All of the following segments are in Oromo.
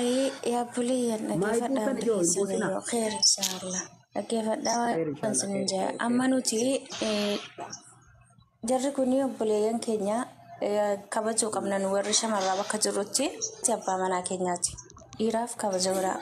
يا بلي dhaggeeffadhaa hundi keessan yoo kheer inshaalla dhaggeeffadhaa waan sin hin jaa amma nuti jarri kun obboleeyyan keenya kabajuu qabna nu warri shamarraa bakka jirrutti itti abbaa manaa keenyaati dhiiraaf kabaja biraa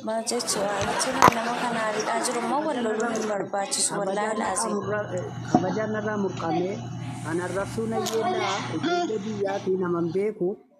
maal jechuu waa jechuun nama kana ariidhaa jiru immoo wal loluu hin barbaachisu wallaahi laazim Kabajaan narraa murqamee kan arrabsuu na yeellaa ijoollee biyyaatii naman beeku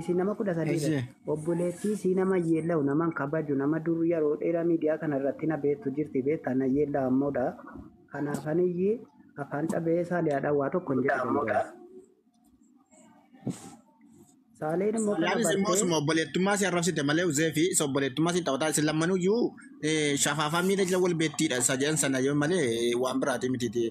Isin nama kudha sadii irratti Eeyyee. obboleettii sii nama yeellawu nama hin kabaju nama dur yeroo dheeraa miidiyaa kana irratti na beektu jirti beektaa na yeellawa ammoodha. Kanaaf aniyyi afaan cabee saaliyaadhaan waa tokko hin jedhu danda'u. Saaleen immoo kana Laanis immoo bartee osuma obboleettummaa si arrabsite malee uzee fi isa obboleettummaa si taphataa isin lammanuyyuu shafaafaa miila jala wal beettiidha isa jedhan sana yoo malee waan biraatii miti.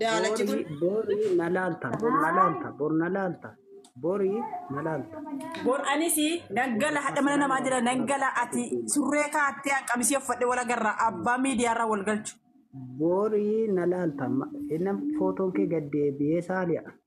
Daalachi kun Borii borii na laalta bor na laalta bor na laalta borii na laalta. bor anis nan gala hadha mana namaa jira nan gala ati surree kaattee an qamisii uffadhe wal agarra abbaa miidiyaarraa wal galchu. Borii na laalta ma- innan footoon kee gad deebi'ee saali'a.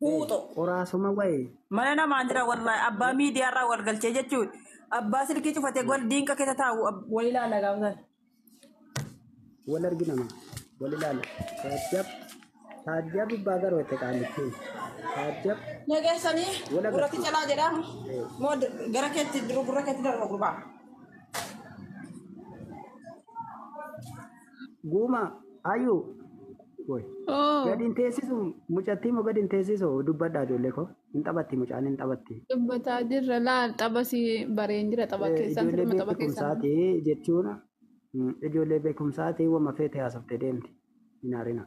Huuxoo. Qoraasuma wayi. Mana namaa jira wallahi abbaa miidiyaa irraa wal galchee jechuun abbaa silkii cufate gol diinqa keessa taa'u ab- wal ilaala gaafa sana. Wal argina ma. Wal ilaala. Taajjab. Taajjab ibbaa garuu itti qaalitti. Taajjab. Nageessanii Wal agarsiisa. gurratti calaa jedhaa moo d- gara keetti duru gurra keetti darba gurbaa. Guuma ayyu woy Oo, gad hin teessisu mucattii moo gad hin teessisu dubbadhaa ijoollee koo hin taphatti mucaan hin taphatti. dubbataa jirra laal xaba si bareen jira xaba Eh, keessan Ijoollee sirma xaba keessan. beekumsaati jechuun mm, ijoollee beekumsaati wama feete haasofte deemti hin haarina.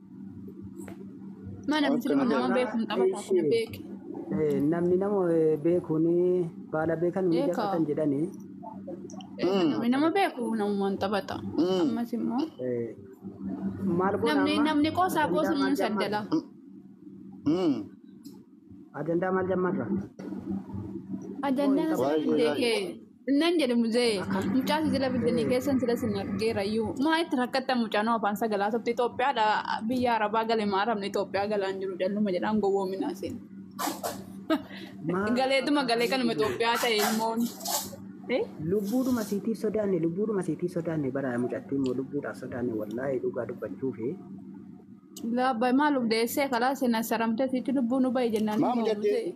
Mana miti nama nama beeku hin taphata kana beeki. Eh, namni nama eh, beekuun baala beekan ni Beeka. jaqatan jedhanii Beeka namni nama beeku namumaan taphata. Ammas immoo eh, maal goona namni amma? namni qoosaa Ajandaa qoosuun maal saddala. jammarra? Ajandaa maal jammarra? Ajandaa Waayee, haasofte waayee. kee. Nan jedhe muzee mucaa si jala biddanii keessan sila sin argeera iyyuu maa itti rakkatta mucaan afaan sagalaa sobte Itoophiyaadha biyya arabaa gale maa arabni Itoophiyaa galaan jiru calluma jedhaan gowwoominaa seen. Galeetuma galee kanuma Itoophiyaa ta'e ilmoon. Eh? Lubbuudhuma siitiif sodaanne lubbuudhuma siitiif sodaanne bara mucattiin immoo lubbuudhaaf sodaanne wallaahi dhugaa dubbachuu fi Laabba maaluf deessee kalaa seenaa saramtee sitti lubbuu nu bahe jennaan Maa immoo mucattiin? muzee.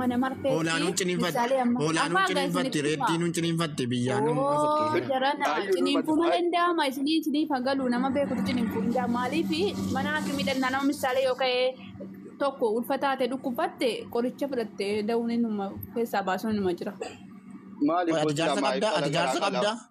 Mana marfeetti. Hoolaan nuun ciniinfatti. Misaalee amma. Hoolaan nuun Afaan kan ciniinfatti. isinitti Reettiin himaa. nuun ciniinfatti. Biyyaan nuun Ooo ofittiifatti. jarana Ayyuu ciniinfuu dubbatu. malee ndaama isinii isiniif haa galu nama beekutu ciniinfuu ndaa maaliif mana haakimii dhannaa nama misaalee yoo ka'e tokko ulfa taate dhukkubatte qoricha fudhatte da'uun inuma keessaa baasuun inuma jira. Maaliif Ati hojii jaarsa lamaa qabdaa? ibsala Ati jaarsa garaa qabdaa? qalaa?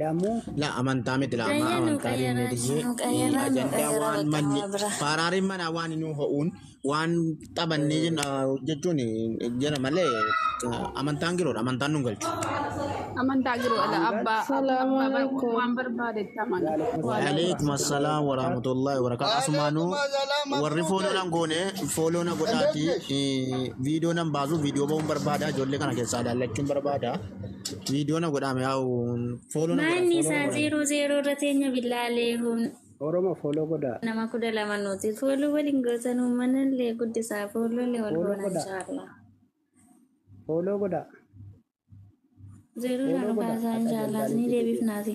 Lamu. La amantaa miti la amma amantaa deemnee diyyee ajandaa waan manni faaraariin manaa waan inni ho'uun waan taphannee jenna jechuun jira malee amantaan giroodha amantaan nun galchu. Amantaa jiru ala abbaa Salaamu abbaa alaikum. waan barbaade itti amana. Waalaikum assalam warahmatullahi wabarakatuh. Asumaanuu warri fooloo nan goone fooloo na godhaati viidiyoo nan baasu viidiyoo ba'uun barbaada ijoollee kana keessaa ilaallachuun barbaada. Viidiyoo na godhaame yaa'u fooloo na godhaa. Maanni isaa zeeroo zeeroo irra teenya billaalee huun Oromo follow godhaa. nama kudha lama nuti fooluu waliin gootan uummanallee guddisaa foolollee wal Fooloo goona godhaa. inshaallah. Follow godhaa. Zeeroo Fooloo irraa nu godhaa. kaasaa Akka inshaallah jalqabeetti ni deebiifnaati.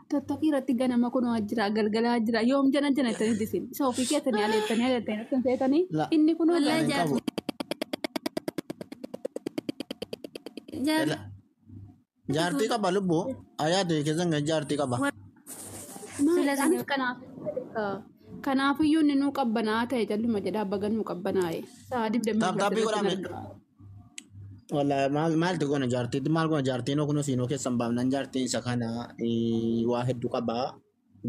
Tokkokkii irratti ganama kun waa jira galgalaa jira yoom jana jana ittanii disin isa ofii keessanii aleettanii aleettanii ittiin seetanii La. inni kun Wallahi Hin qabu. Jaartii Ela- Jaartii qaba lubbu. Ayaa ta'e keessan kan jaartii qaba. Sila maal sila- kanaaf kanaafiyyuu inni nuu qabbanaa ta'e calluma jedhaa baga nuu qabbanaa'e sa'a digdamii Taaptaappii godhaame. Wala maal maaltu goona jaartii maal goona jaartiin oo kunoo siinoo keessan baafnan jaartiin isa kana eh, waa hedduu qabaa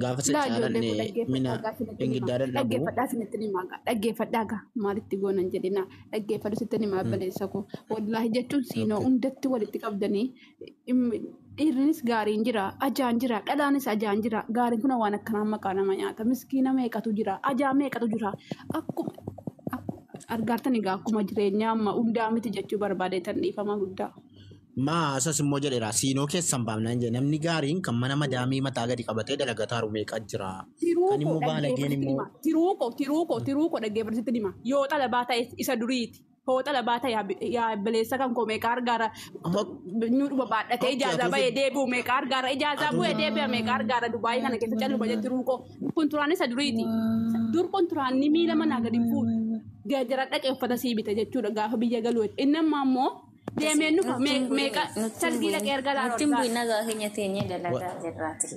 gaafa isa Laa ijoollee caalanne koo mina dhaggeeffadhaa gaa isinitti hima. ingiddaa dadhabu Dhaggeeffadhaa isinitti hima gaa. Dhaggeeffadhaa gaa maalitti goonan jedhinaa. Dhaggeeffadhu isinitti hima abbaleessa koo. Wallaahi jechuun siinoo okay hundatti walitti qabdanii Dhiirrinis gaariin jira, ajaan jira, dhalaanis ajaan jira. Gaariin kun waan akkanaan maqaa nama nyaata. Miskiina meeqatu jira, ajaa meeqatu jira. Akkuma argaartan egaa akkuma jireenya amma hundaa miti jechuu barbaadeetan dhiifama guddaa. Maa asas immoo jedheera siinoo keessan baafnaan jedhe namni gaariin kan mana madaamii mataa gadi qabatee dalagataaru meeqa jira. Kan immoo baalageen immoo. Tiruuko, tiruuko, tiruuko dhaggeeffatisitti hima. Yoo xalabaa ta'es isa duriiti. Fooxa labaata yaa bi- yaa baleessa kan koo meeqa argaara nyuudhuma baadhatee ijaazaa ba'ee deebi'u meeqa argaara ijaazaa bu'ee deebi'a meeqa argaara Dubaayii kana keessa calluma jetti ruuqoo kunturaan isa duriiti dur kunturaanni miila manaa gadi fuudhu geejjira dhaqee uffata sii bita jechuudha gaafa biyya galuu inni ammaa immoo deemee nufa meeqa salgii dhaqee erga laalu Nuttiin argaara. bu'inna gaa keenya teenyee dalagaa jirraati.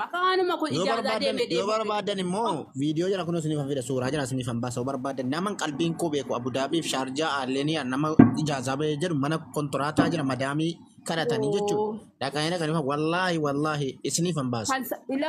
Maqaa waanuma kun yoo ijaarsaa barbaadan deemee yoo deemuu. barbaadan immoo viidiyoo jala kun isiniif fida suuraa jala isiniif baasa yoo barbaadan naman qalbiin koo beeku abudaabiif shaarjaa aalleeniyaa nama ijaazaa bahee jedhu mana kontoraataa jira madaamii kadhatanii jechuudha dhaqanii dhaqanii wallaahi wallaahi isiniif baasa. Kan sa- ilaa